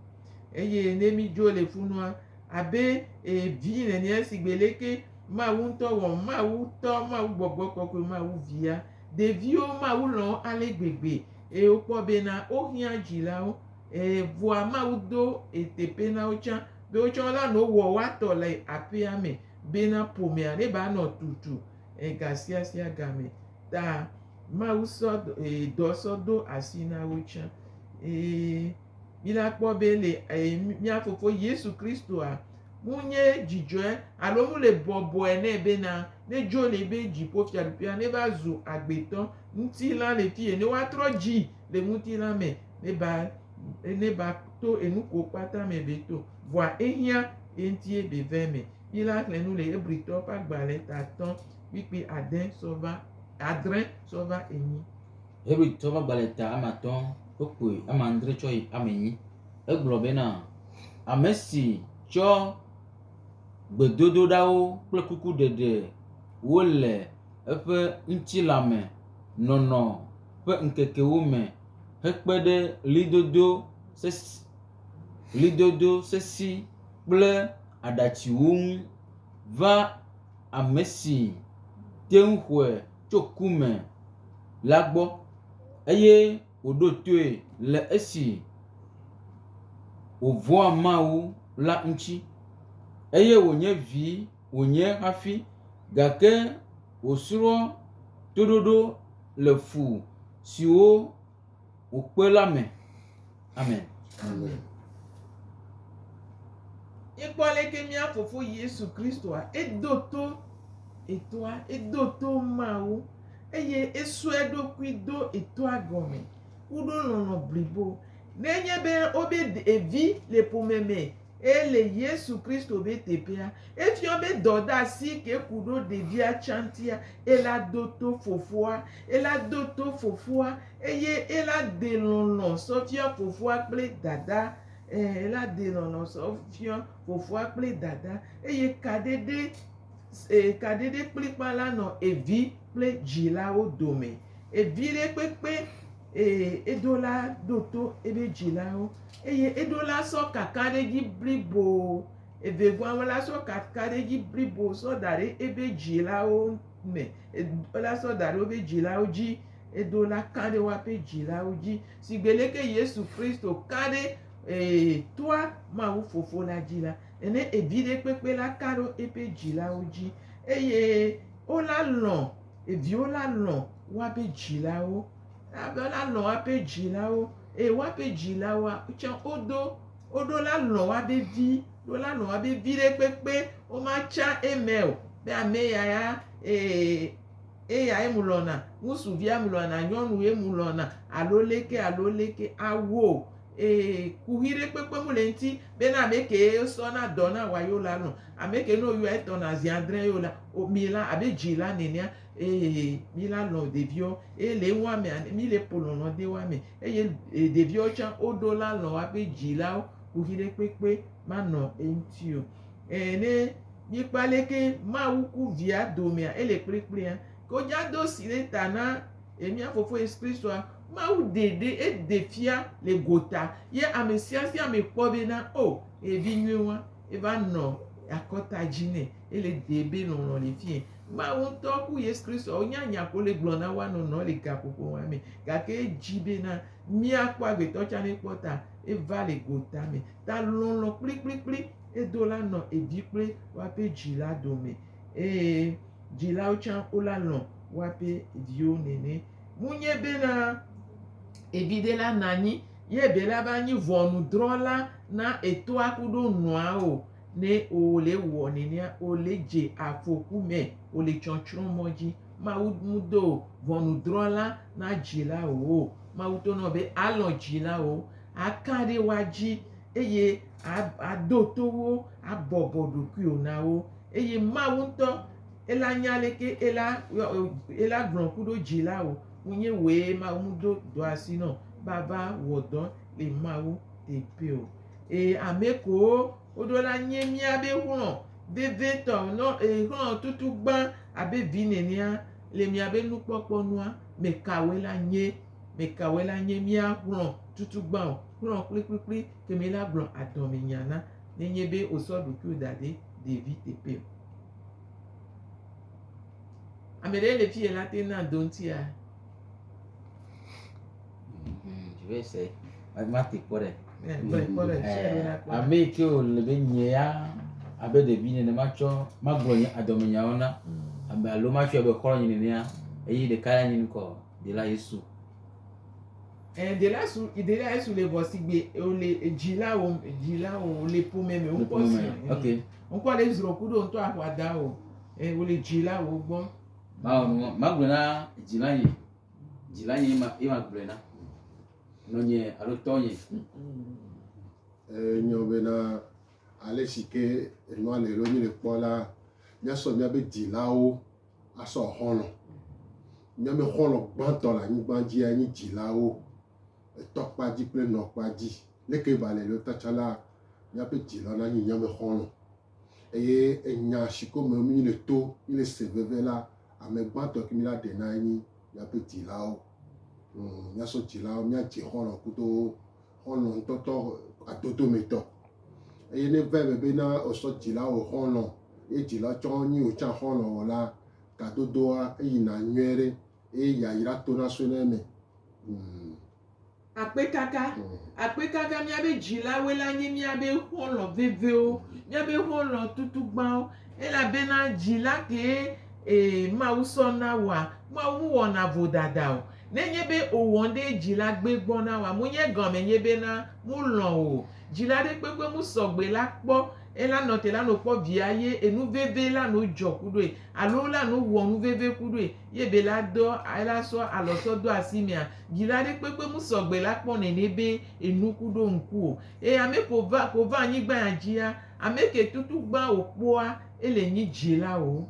Eye ne mi dzo le funua abe evi nene si gbe leke Mawu ŋutɔ wɔ Mawu tɔ Mawu gbɔgbɔ kɔkɔe Mawu via Ɖeviwo Mawu lɔ̃ wo ale gbegbe, eye wokpɔ bena wohiã dzilawo. Ɛ̃, vɔa Mawu do eteƒe na wo tsã be wo tsã wola nɔ wɔ woa tɔ le aƒea me bena ƒomea neva nɔ tutu ɛ̃ gasiasia game. Ta Mawu sɔ dɔ sɔ do asi na wo tsã. Ɛ̃. Mina kpɔ be le eh, mía Fofo Yesu Kristoa ŋu nye dzidzɔe alo ŋu le bɔbɔe nɛ bena nedzo le eƒe dziƒofiaɖuƒea neva zu agbetɔ ŋutilã le fiẽ ne woatrɔ dzi le ŋutilã me neva neva to enuko kpata me be to vɔa ehiã ye ŋutie be ve me. Mina xlẽ nu le Hebritɔ ƒe agbalẽta atɔ̃ kpikpi ade sɔva adre sɔva enyi. Hebritɔ ƒe agbalẽ ta ame atɔ wokpoe ame adre tsɔ yi ame enyi. Egblɔ bena, Ame si tsɔ gbedodoɖawo kple kuku ɖeɖe wo le eƒe ŋutilã me nɔnɔ ƒe ŋkekewo me hekpe ɖe ɣlidodo sesĩ ɣlidodo sesĩ kple aɖatsiwo ŋu va ame si te ŋu xɔe tso ku me la gbɔ eye wòɖo toe le esi wòvɔ̃a Mawu la ŋuti. Eye wònye vi wònye hafi gake wòsrɔ̃ toɖoɖo le fu siwo. wò kpe la me. Amen. Amen. Ekpɔ aleke mía fofo Yesu Kristoa edo to etoa, edo to Mawu eye esue eɖokui do etoa gɔme ku ɖo lɔlɔ̃ blibo. Nenye be wobe ɖevi le ƒome me eye le Yesu Kristo be teƒea, efiɔ be dɔdeasi ke ku ɖo ɖevia tsãtia, ela do to fofoa, ela do to fofoa, eye ela de lɔlɔ̃ sɔ fiɔ fofoa kple dada, ẽ, ela de lɔlɔ̃ sɔ fiɔ fofoa kple dada, eye kaɖeɖe, e, kaɖeɖe kplikpã la nɔ evi kple dzilawo dome. Eviɖekpekpe. eye eɖo la ɖo to eƒe dzilawo, eye eɖo la sɔ kaka ɖe edzi blibo, eve vɔa me la sɔ kaka ɖe edzi blibo sɔ da ɖe eƒe dzilawo me, eɖo la sɔ da ɖe woƒe dzilawo dzi, eɖo la ka ɖe woƒe dzilawo dzi, sigbe leke Yesu Kristo ka ɖe ee, toa Mawu Fofo la dzi la, ene evi ɖe kpekpe la ka ɖe eƒe dzilawo dzi, eye wola lɔ̃. Ɖeviwo la lɔ̃ woabe dzilawo. Woabe la lɔ̃ woabe dzilawo eye woabe dzilawoa tsɛ wodo woɖo la lɔ̃ woabe vi. Wo la lɔ̃ woabe vi ɖe kpekpe womatsã eme o be ame ya ya ee eyae ŋu lɔ̃na. Ŋutsuvia ŋu lɔ̃na, nyɔnu ye ŋu lɔ̃na alo leke alo leke awu o. Ee, kuxi ɖe kpekpe mu le eŋti be ne ame kee wosɔ na dɔ na wa yeo la lɔ̃. Ame ke ne woyɔa etɔ̃ na zi adre yeo la, o mi la abe dzila nenea, ee, mi la lɔ̃ ɖeviwo. Eye le eŋua mea, mi le ƒo lɔlɔ̃ de woa me. Eye ɖeviwo tsã woɖo la lɔ̃ woaƒe dzilawo, kuxi ɖe kpekpe manɔ eŋti o. Ee, ne mikpɔ aleke Mawu ku Via domea, ele kplikplia, ke wonya do si ɖe ta na Ye mía Fofo Yesu Kristoa, Mawu dee ɖe ede fia le gota, ye ame sia sia ame kpɔ be na o eye vi nyuie wa eva nɔ akɔta dzi nɛ ele dee be lɔlɔ le fie. Mawu ŋutɔ ku Yesu Kristoa wo nya nya ko le gblɔ na wa nɔ nɔ le gaƒoƒo wa me gake edzi be na mía kpɔ agbetɔ tsa ne kpɔ ta eva le gota me ta lɔlɔ kplikplikpli edo la nɔ evi kple wa ƒe dzi la dome eye Dzilawo tsã wola lɔ̃ woape viwo nɛnɛ. Munye bena eviɖe la nanyi ye be la va nyi ʋɔnudrɔla na etoa kuɖo nɔa o. Ne wole ewɔ nɛnɛa, wole dze afoku me, wole tsɔtsrɔ̃ mɔ dzi. Mawu mudo ʋɔnudrɔla na dzilawo o. Mawu to nɔ be alɔ̃ dzilawo, aka ɖe woa dzi eye ado to wo, abɔbɔ ɖokuiwo na wo. Eye Mawu ŋutɔ ela nya leke ela ela gblɔ ku ɖo dzi la o. Ŋunye woe Mawu ŋu do dɔ asi nɔ bava wɔ dɔ le Mawu te pe o. Ee, ame kowo woɖo la nye mía be xlɔ vevitɔ nɔ ee xlɔ tutu gbã abe vi nenea le mía be nukpɔkpɔ nua. Me kawoe la nye? Me kawoe la nye mía xlɔ tutu gbã o? Xlɔ kplikplikpli kemi la gblɔ adɔme nya na. nenye be wòsɔ ɖokuiwo da ɖe ɖevi teƒe o. Ame ɖe le fi la te na do ŋutia. Vese ma te kpɔ ɖe. Ame yi ke wòle be nye ya abe ɖevi nene matsɔ magblɔ nye adɔmenyawo na mm. ame alo matsɔe be xɔlɔ̃nye nenea eye ɖeka ya nye ŋkɔ. Dela Yesu. Eh, dela Yesu, dela Yesu le vɔ sigbe le dzila wo, dzila wo le ƒome me wokpɔ si. Eh, ok. Wokpɔ le Israel ku ɖo ŋutɔ aƒua da wo. Eh, wo le dzila wo gbɔ. Ma wo ma gblɔ na dzila ye. Dzila ye ma ye ma gblɔ na. Nɔnye alo tɔ ye. Eh, nyɔ bena ale si ke enua le lo nye le kpɔ la, míasɔ míabe dzilawo Asɔ xɔlɔ̃. Míaƒe xɔlɔ̃ gbãtɔ le anyigba dzia nye dzilawo, etɔ kpa dzi kple enɔ kpa dzi. Leke ba le lota tsã la, míaƒe dzila na nye míaƒe xɔlɔ̃. Eye enya si ko me mí le to, mí le se veve la, ame gbãtɔ ke mí la ɖe na enye míaƒe dzilawo. Hm, míasɔ dzilawo, míadze xɔlɔ̃ kudo wo. xɔlɔ̃ ŋutɔtɔ atotometɔ. Eye ne va eme bena wòsɔ dzila wɔ xɔlɔ̃ ye dzila tsɔ nyi wòtsã xɔlɔ̃ wɔ la, gadodoa eyina nyuie ɖe eye yayra tona sɔena eme. Mm. Akpekaka. Mm. Akpekaka míaƒe dzilawoe la nye míaƒe xɔlɔ̃ veviwo, míaƒe xɔlɔ̃ tutugbãwo, elabena dzila kee, ee, Mawu sɔ na woa, Mawu mewɔna vodada o. Nenye be owɔn ɖe dzila gbe gbɔ na wa mo nye gɔme nye be na mo lɔn o. Dzila ɖe kpekpe mo sɔgbe la kpɔ ela nɔ te la no kpɔ via ye enu veve la no dzɔ kuɖoe alo la no wɔ nu veve kuɖoe ye be la dɔ ela sɔ alɔ sɔ do asi mea. Dzila ɖe kpekpe mo sɔgbe la kpɔ nɛnɛ be enu kuɖo ŋku o. E ame ko va ko va anyigban ya dzi ya, ameke tutu gbã wo kpɔa ele nyi dzila o.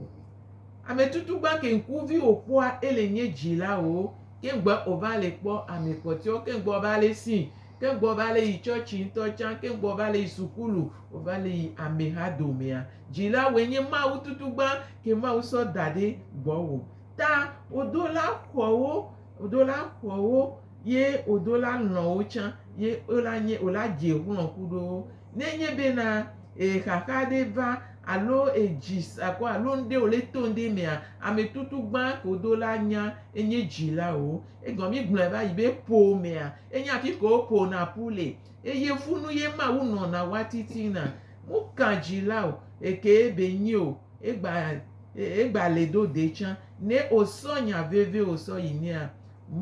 Ame tutu gba ke ŋku vi o kpɔa ele nye dzi la o ke ŋgbe o va le kpɔ ame kpɔtɔewo ke ŋgbe o va le si ke ŋgbe o va le yi tsɔtsi ŋtɔ tsa ke ŋgbe o va le yi sukulu o va le yi ame ha domea dzi la woe nye Mawu tutu gba ke Mawu sɔ da ɖe gbɔ wo ta o do la xɔ wo o do la xɔ wo ye o do la lɔn wo tsa ye o la nye o la dze xlɔ kuɖo wo ne nye be na e xaxa ɖe va alo ejis akɔ alo ŋɖe o le to ŋɖe mea, ame tutu gbã ke wo do la nya enye dzilawo. Egɔme mi gblɔe va yi be ƒomea enye afi ke wo ƒo na ƒu le. Eye ƒu nu ye Mawu nɔ na wa titina. Mu ka dzila o eke be nyi o, egba egba le do de tsã. Ne o sɔ nya veve o sɔ yi nɛa,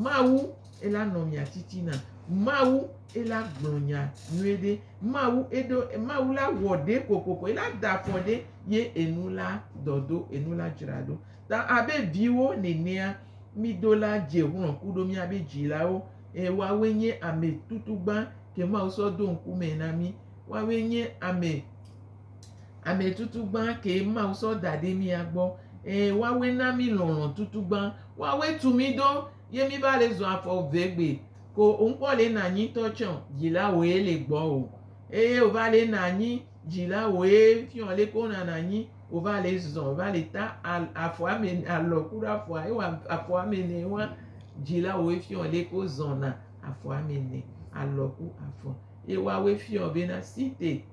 Mawu ela nɔ mia titina. Mawu ela gblɔ nya nyuie ɖe. Mawu eɖo Mawu la wɔ ɖe kokoko ela da afɔ ɖe ye enu la dɔdo enu la dzraɖo. Ta abe viwo nenea mi do la dze ŋlɔ ku ɖo mia be dzilawo e woawoe nye ame tutugba ke Mawu sɔ do ŋkume na mi. Woawoe nye ame. ametutugbã kee Mawu sɔ da ɖe mía gbɔ. Ee, woawoe na mí lɔlɔ̃ tutugbã. Woawoe tu mí ɖo ye míva le zɔ afɔ ve gbe. Ko ŋkpɔ le na anyi ŋutɔ tsɛ o, dzilawoe le gbɔwò. Eye wòva le na anyi dzilawoe fiɔ leke wonana anyi, wòva le zɔ, wòva le ta afɔ ame ene, alɔ ku ɖe afɔa, ewɔ afɔ ame ene wa. Dzilawoe fiɔ leke wozɔna afɔ ame ene, alɔ ku afɔ. Ye woawoe fiɔ bena site.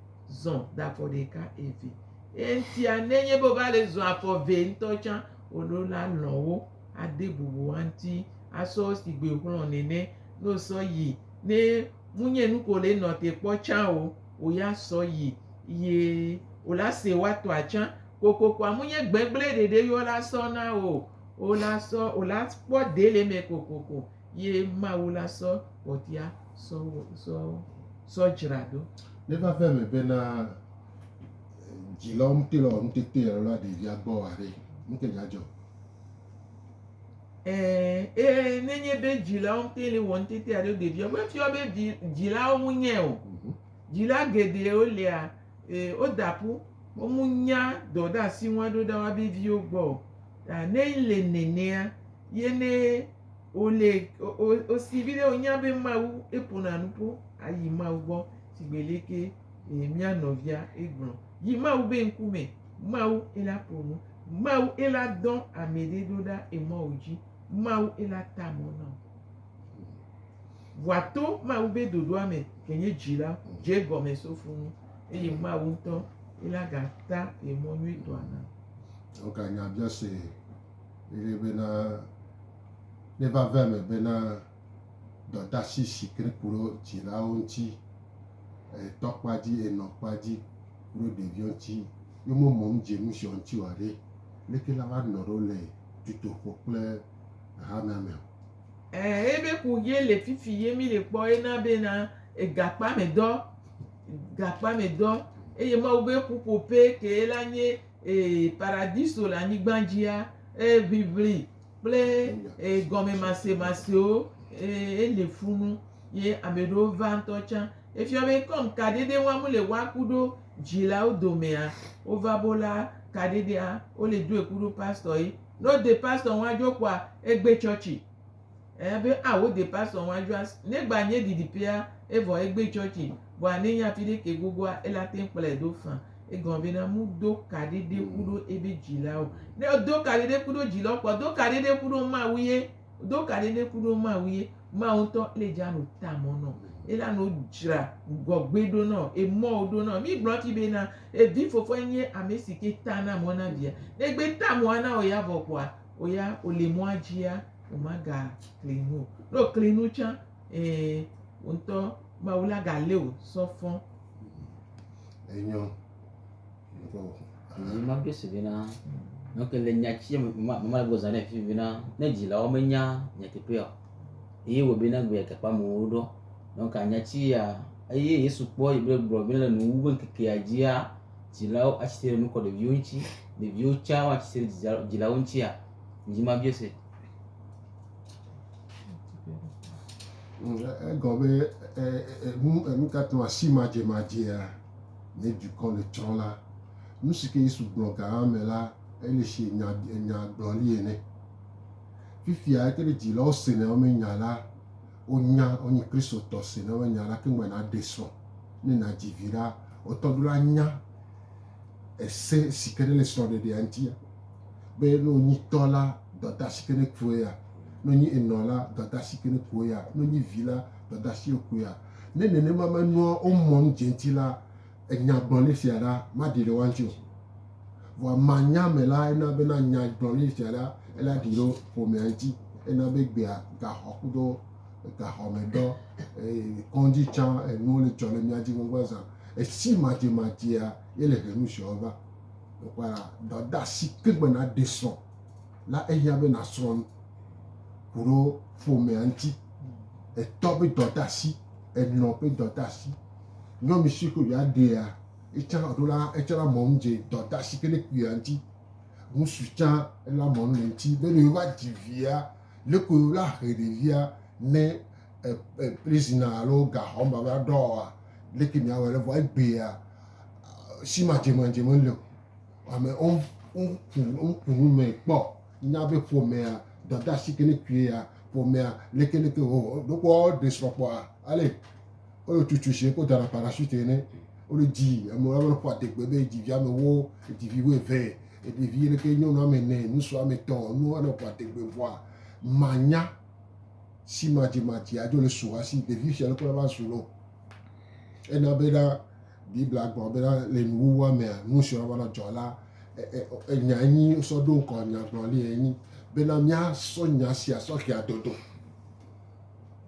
zɔ da afɔ ɖeka eve eŋtia nenye be va le zɔ afɔ ve ŋutɔ tsã woɖo la lɔ wo ade bubu wa ŋuti asɔ sigbe xlɔ nene ne wosɔ yi ne munye nu ko le nɔ te kpɔ tsã o wo ya sɔ yi ye wo la se wa tɔ atsã kokoko amunye gbegble ɖeɖe yo la sɔ na o wo la sɔ wo la kpɔ de le me kokoko ye Mawu la sɔ ƒɔtia sɔ wo sɔ sɔ dzra ɖo. Ne va ve me be na dzi lɔ ŋute lɔ ŋutete lɔ la ɖevia gbɔ wa ɖe ŋute dza dzɔ. Ɛɛ e ne nye be dzi lɔ ŋute le wɔ ŋutete aɖe ɖevia gbɔ efiɔ be vi dzi lawo mu nye o. Mhm. Dzi la geɖe wo lia e wo da ƒu wo mu nya dɔ ɖe asi ŋua ɖo ɖa wa be viwo gbɔ o. Ta ne le nenea ye ne. wole, wosi viɖe wonya be Mawu eƒona nu ƒo ayi Mawu gbɔ shigbe leke mía nɔvia egblɔ yi Mawu be ŋkume. Mawu ela ƒo nu, Mawu ela dɔ ame ɖe ɖo ɖa emɔ wodzi, Mawu ela ta mɔ na wo. Vɔa to Mawu be ɖoɖoa me ke nye dzi la dze gɔme so fu nu eye Mawu ŋutɔ ela gata emɔ nyuitɔa na. Woka nya biase Eye bena neva ve eme bena dɔdasi si ke ku ɖo dzilawo ŋuti, e tɔ kpa dzi, e nɔ kpa dzi ku ɖo ɖeviwo ŋuti, yo me mɔ ŋdze nusiɔ ŋuti oa ɖe, leke la va nɔ ɖo le dutoƒo kple hamea me o? Ẽ, ebe ku ye le fifi ye mi le kpɔ ye na bena e gakpame dɔ, gakpame dɔ. Eye Mawu be ƒuƒoƒe ke la nye ee, paradiso le anyigba dzia, eʋiʋli kple ee, gɔmemasemasiwo ee, eli fu nu ye ame ɖewo va ŋutɔ tsã. Efia be kɔm kaɖeɖe wɔm wole wa ku ɖo dzilawo domea, wova bo la kaɖeɖea, wole doe ku ɖo pastɔ ye. Ne wode pastɔ ŋua dzo kpɔa, egbe tsɔtsi. Eya be a wo de pastor ŋu adzɔ asi. Negba nye ɖiɖiƒea evɔ egbe churchi vɔa ne nya fi ɖe ke gogoa ela teŋ kplɔe ɖo fã. Egɔme be na mu do kaɖi ɖe ku ɖo ebe dzila o. Ne o do kaɖi ɖe ku ɖo dzila o kpɔ do kaɖi ɖe ku ɖo Mawu ye. Do kaɖi ɖe ku ɖo Mawu ye. Mawu ŋtɔ le dza no ta mɔ nɔ. Ela no dzra gɔgbe ɖo nɔ, emɔ wo ɖo nɔ. Mi gblɔ fi be na evi fofo enye amesi ke ta na mɔ na via. Ne gbe ta mɔa na o ya vɔ kpɔa. Woya wòli mɔa dzia, wòmagakli nu o. Ne wòkli nu tsã, ɛ̃, wò ŋutɔ Mawu la galé wò sɔ fɔ. Enyɔ. Dzi ma ɖo se vɛ na. Ne ke le nya tsi me ma ma go zã ne fi vɛ na. Ne dzilawo menya nyateƒea o. Eye wɔ bena gbe gakpɔ amewo ɖɔ. Ne ka nya tsi ya eye Yesu kpɔ yi be gblɔ be le nuwuwu ŋkekea dzia. dzilawo atsi tre nu kɔ ɖeviwo ŋuti, ɖeviwo tsɛ woatsi tre ɖe dzilawo ŋutia? Dzi ma biɔ se. Egɔ be enu enu ka tɔn asi madze madzea ne dukɔ le tsrɔ̃ la, nu si ke Yesu gblɔ ga ame la ele si nya nya gblɔli ene. Fifia ete ɖe dzilawo sena woƒe nya la Wonya wonyi Kristotɔ si ne wonya ɖa keŋ be naɖe srɔ̃ ne nadzi vi ɖa. Wotɔ ɖo la nya ese si ke ne le srɔ̃ɖeɖea ŋuti be ne wonyi tɔ la dɔdasi ke ne kue ya, ne wonyi enɔ la dɔdasi ke ne kue ya, ne wonyi vi la dɔdasi wokue ya. Ne nenema menɔa wo mɔnu dze ŋuti la, enyagblɔɖi sia ɖa maɖi ɖe woaŋuti o. Vɔa manya me la ena bena nyagblɔɖi sia ɖa ela ɖi ɖe ƒomea ŋuti. Ena be gbea gaxɔ kudo gaxɔmedɔ, kɔdzi tsã enuwo le dzɔ le mía dzi gbɔgbɔ zã. Esi madzemadzea ye le he nu siawo va. Wokpɔe la, dɔdeasi ke gbe naɖe srɔ̃ la ehiã be nasrɔ̃ nu ku ɖe ƒomea ŋuti. Etɔ ƒe dɔdeasi, enɔ ƒe dɔdeasi. Nyɔnu si ko ya ɖea etsã ɖo la etsã la mɔnu dze dɔda si ke ne kpuia ŋuti. Ŋutsu tsã la mɔnu le ŋuti be ne yewova dzi via leko la he ɖevia ne prizina alo gaxɔ me va ɖɔ oa leke miawɔ ɖe vɔ egbea si madzemadze meli o. Ame woku nu me kpɔ nya be ƒomea dɔda si ke ne kpuia ƒomea lekeleke wowɔ ɖo kpɔ woɖe srɔ̃ kpɔa ale. wole tutu zi ko dana parachute ene wole dzi ame aɖe ƒe adegbe be dzivi ame wo dzivi wo eve eɖevi ɖeke nyɔnu ame ene ŋutsu ame etɔ̃ nu ane ƒe adegbe vɔa manya si madzi madzi adzo le su hasi ɖevi sia ɖe kple va zu lo ena be ɖa biblia gblɔ be ɖa le nuwuwua mea nu si va na dzɔ la enya enyi sɔ ɖo ŋkɔ nyagblɔli enyi bena míasɔ nya sia sɔ xea dodo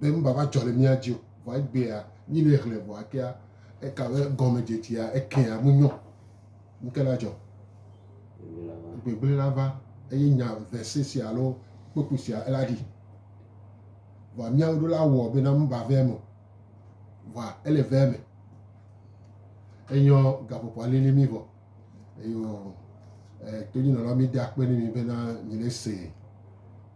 be nu bava dzɔ le mía dzi o. Vɔ egbea, mí le hlẽ vɔ akea, eka be gɔmedzedzea ekea menyɔ. Nu ke la dzɔ. Gbegblẽ la va eye nya vese sia alo kpekpe sia ela ɖi. Vɔ míawo ɖo la wɔ bena nu ba vea me o. Vɔ ele vea me. Enyɔ gaƒoƒoa lili mí vɔ. Eyɔ eh, tonyinɔla mi da akpe ne mi bena mi ne se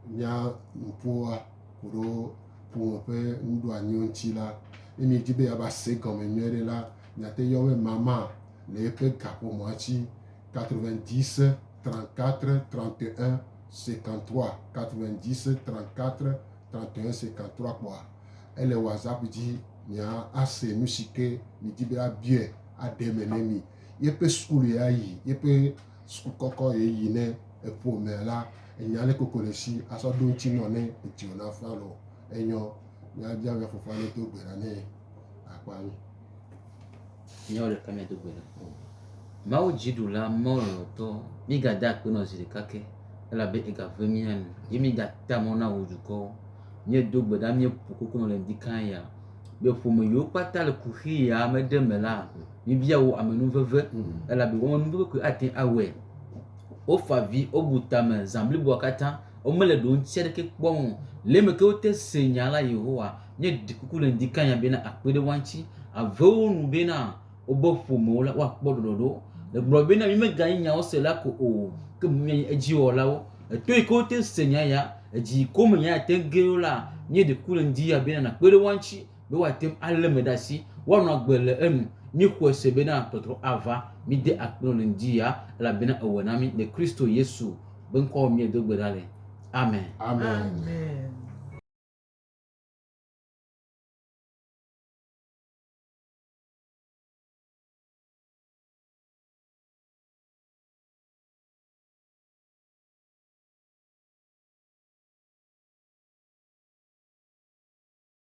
mia nuƒoa koɖo ƒome ƒe nuɖoanyiwo ŋuti la, ne mi di be yaba se gɔme nyuie ɖe la, miate yɔ be mama le eƒe gaƒomɔa ŋuti 90 34 31 53 90 34 31 53 kpɔa ele WhatsApp dzi mia ase nu si ke mi di be abiɔe aɖe me ne mi. yeƒe sukulu ya yi yeƒe sukulu kɔkɔ ye yi ne eƒo mɛ la enya le koko le si asɔ ɖo ŋuti nɔ ne etsio na fa lɔ enyɔ ya dza ya fofa ne do gbe la ne akpa ni. Nyɔ le kame do gbe la. Mawu dziɖula mɔlɔtɔ mi ga da akpe nɔ zi ɖeka ke elabe ega ve mi anu ye mi ga ta mɔ na wo dukɔ mi do gbe la mi ƒo koko nɔ le ŋdi kan ya be ƒome yewo kpata le kuxi ya me ɖe me la. Mibia wo ame nu veve, mm. elabe woawo nu veve koe ate awɔe. Wofa vi, wobu tame zã bliboa katã, womele ɖoŋti aɖeke kpɔm o. Le eme ke wote se nya la Yehowa, míeɖi kuku le ŋdi kanya bena akpe ɖe woa ŋuti. Avewo nu bena wobe ƒomewo la, woakpɔ ɖɔɖɔɖo. Egblɔ bena míemeganyi nyawosela ko o, ke boŋ míanye edziwɔlawo. Eto yi ke wote se nya ya, edzi yi ke wome nya ya te ge ɖo la, míeɖi kuku le ŋdi ya bena nakpe ɖe woa ŋuti be woate ŋu alé me ɖe asi, woanɔ agbe le enu. Míexɔe se bena tɔtrɔ ava, míde akpe nɔ le ŋdi ya, elabena ewɔe na mí le Kristo Yesu ƒe ŋkɔ me míedo gbe ɖa le. Amen. Amen.